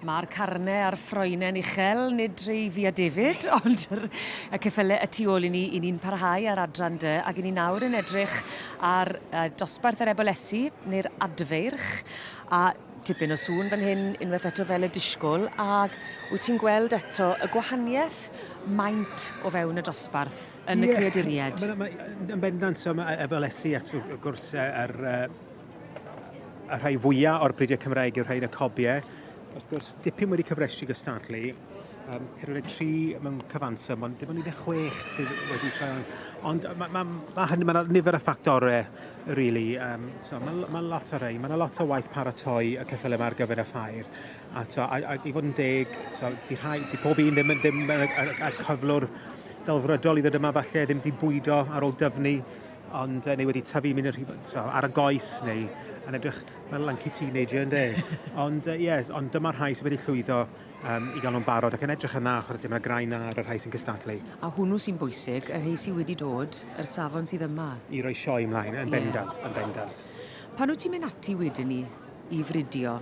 Mae'r carnau a'r ffroenen uchel, nid rhai fi a David, ond yr, y ceffylau y tu ôl i ni, i ni'n parhau ar adran dy, ac i ni nawr yn edrych ar uh, dosbarth yr ebolesi, neu'r adfeirch, a tipyn o sŵn fan hyn, unwaith eto fel y disgwyl, ac wyt ti'n gweld eto y gwahaniaeth maint o fewn y dosbarth yn yeah. y creaduriaid? Yn bendant, so mae ebolesi at wrth gwrs yr uh, y rhai fwyaf o'r bridiau Cymraeg yw'r rhai yn y cobiau. Wrth gwrs, dipyn wedi cyfresu gystadlu, um, 43 mewn cyfanswm, ond dim ond 16 sydd wedi troi Ond mae ma, ma hynny, mae nifer o ffactorau, really. Um, so, mae ma lot o rei, mae yna lot o waith paratoi y ceffyl yma ar gyfer y ffair. A, to, a, a i fod yn deg, to, di, rhai, di pob un ddim, ddim, ddim y, y, y cyflwr delfrydol i ddod yma falle, ddim di bwydo ar ôl dyfnu ond neu wedi tyfu mynd yn rhy... so, ar y goes neu yn edrych fel lanky teenager ynde. ond uh, yes, ond dyma rhai sydd wedi llwyddo um, i gael nhw'n barod ac yn edrych yn dda chwarae tîm yna graen dda ar y rhai sy'n cystadlu. A hwnnw sy'n bwysig, y rhai sydd wedi dod, yr safon sydd yma. I roi sioe ymlaen, yn bendant, yeah. yn bendant. Pan wyt ti'n mynd ati wedyn ni i fridio,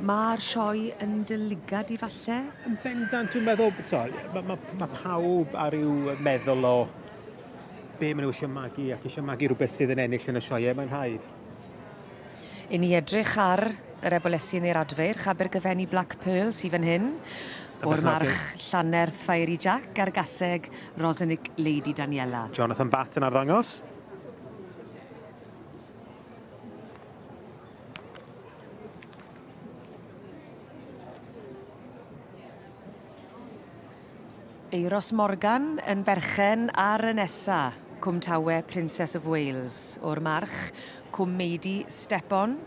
mae'r sioe yn dylygad i falle? Yn bendant, dwi'n meddwl, mae ma, ma pawb ar ryw meddwl o Be maen nhw eisiau magu ac eisiau magu rhywbeth sydd yn ennill yn y sioe, mae'n rhaid. I ni edrych ar yr ebolesi neu'r adfeirch Abergyfenni Black Pearl sydd fan hyn, o'r march Llanerth Fiery Jack a'r gaseg Rosenic Lady Daniela. Jonathan Batt yn arddangos. Euros Morgan yn berchen ar y nesa, Cwm Tawe Princess of Wales, o'r March, Cwm Meidy Stepon,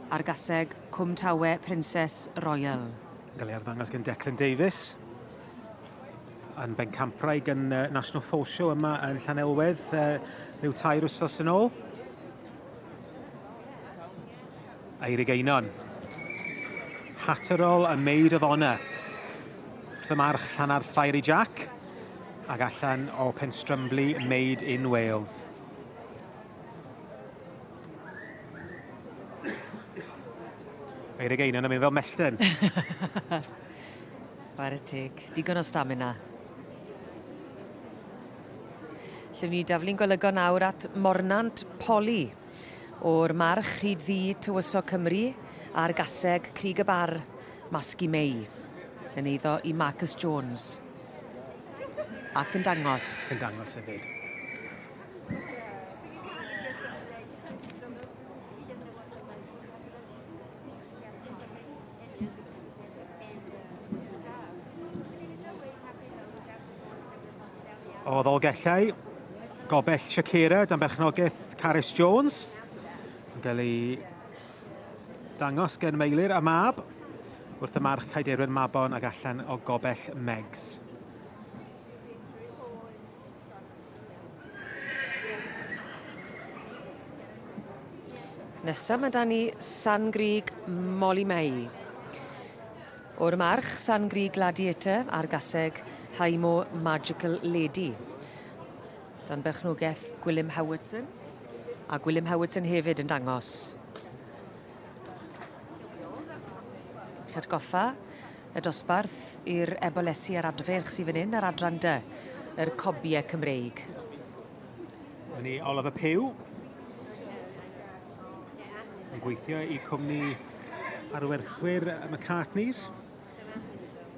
a'r gaseg Cwm Tawe Princess Royal. Yn cael ei arddangos gan Declan Davies yn bencampwraig yn uh, National Fall Show yma yn Llanelwedd uh, rhyw tair wsos yn ôl. Eirig Einon. Hatterol a Maid of Honour. Wrth y march Llanarth Fiery Jack ac allan o Penstrumbly Made in Wales. Eirig Einon yn mynd fel mellten. Fare teg. Digon o stamina. Lle ni daflu'n golygon nawr at Mornant Poli. o'r March hyd Ddu Tywysog Cymru ar gaseg Crug y Bar, Masgu Mei, yn eiddo i Marcus Jones. Ac yn dangos. Yn dangos hefyd. O ddolgellau, gobell Shakira dan berchnogaeth Carys Jones. Yn cael ei dangos gen Meilir a Mab wrth y march Caiderwen Mabon ag allan o gobell Megs. Nesa mae da ni San Grig Molly May. O'r March, San Gri Gladiator, a'r Gaseg, High Moor Magical Lady. Dan berchnogaeth Gwilym Howardson. A Gwilym Howardson hefyd yn dangos. Chi'n atgoffa y dosbarth i'r ebolesi a'r adferch sydd fan hyn ar adran dy, yr cobiau Cymreig. Dyna ni, Olaf y Pyw. Yn gweithio i cwmni arwerthwyr McCartney's.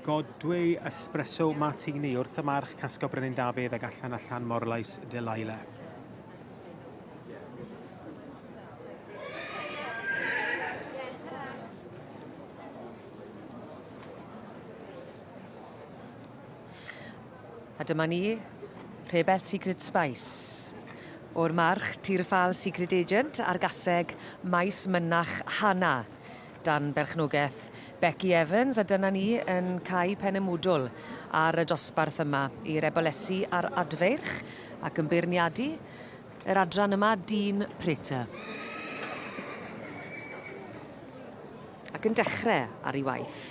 Godwei espresso martini wrth y march casgo Brenin Dafydd ag allan allan morlais Delilah. A dyma ni, Rhebell Secret Spice. O'r March, Tir y Ffâl Secret Agent a'r Gaseg, Maes Mynach Hana. Dan berchnogaeth Becky Evans a dyna ni yn cau Penemwdwl ar y dosbarth yma i rebelesu ar adfeirch ac yn beirniadu yr adran yma dyn Prater. Ac yn dechre ar ei waith.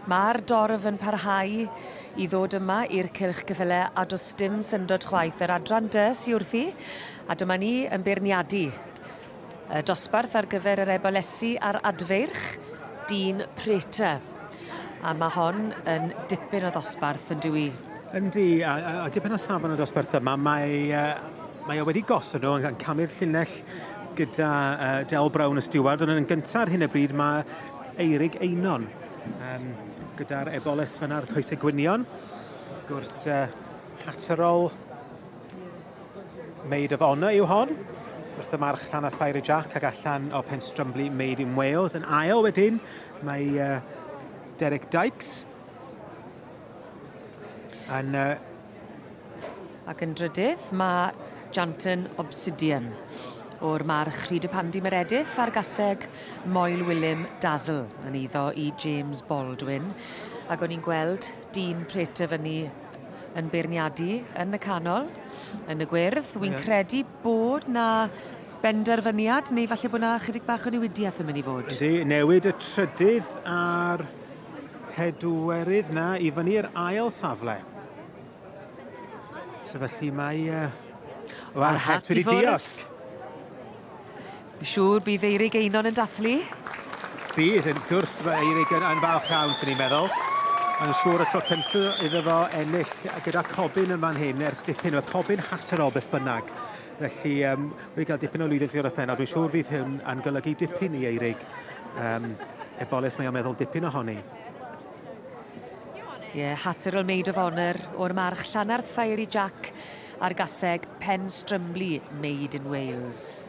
Mae'r dorf yn parhau i ddod yma i'r cylch cyffyle a does dim syndod chwaith. Yr adran dy sy wrthi a dyma ni yn beirniadu y dosbarth ar gyfer yr ebolesi a'r adfeirch, dyn Prater. A ma' hon yn dipyn o ddosbarth yndyw 'i? Yndi a a a dipyn o safon y dosbarth yma mae yy mae o wedi gosod nhw yn camu'r llinell gyda yy Del Brown y stiward ond yn gynta ar hyn o bryd ma' Eirig Einon yym gyda'r Ebolis fan 'na a'r coese gwynion wrth gwrs yy Catterall Maid of Honour yw hon. Wrth y march Llanna Fiery Jack ac allan o Penstrumbly Made in Wales. Yn ail wedyn, mae uh, Derek Dykes yn... Uh... Ac yn drydydd, mae Janton Obsidian o'r march Rhyd y Pandi Meredith a'r gaseg Moel Wilym Dazzle yn eiddo i James Baldwin. Ac o'n i'n gweld dyn pret y fyny yn beirniadu yn y canol, yn y gwyrdd. Dwi'n yeah. credu bod na benderfyniad, neu falle bod na chydig bach o newidiaeth yn mynd i fod. Ydy, newid y trydydd a'r pedwerydd na i fyny i'r ail safle. So felly mae... Uh, Mae'r het wedi diolch. Fi siŵr bydd Eirig Einon yn dathlu. Bydd, yn gwrs, mae Eirig yn, yn falch iawn, sy'n ni'n meddwl. Mae'n siŵr y tro cyntaf iddo fo ennill gyda Cobyn yma'n hyn ers dipyn. Oedd Cobyn Hatterol beth bynnag. Felly, um, wedi cael dipyn o lwyddiant o'r pennod. Dwi'n siŵr fydd hyn yn golygu dipyn i Eirig. Um, ebolus mae o'n meddwl dipyn ohoni. Ie, yeah, Hatterol Maid of Honour o'r march Llanarth Fiery Jack a'r gaseg Pen Strymlu Made in Wales.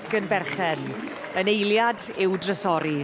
yn berchen yn eiliad i'w drysori.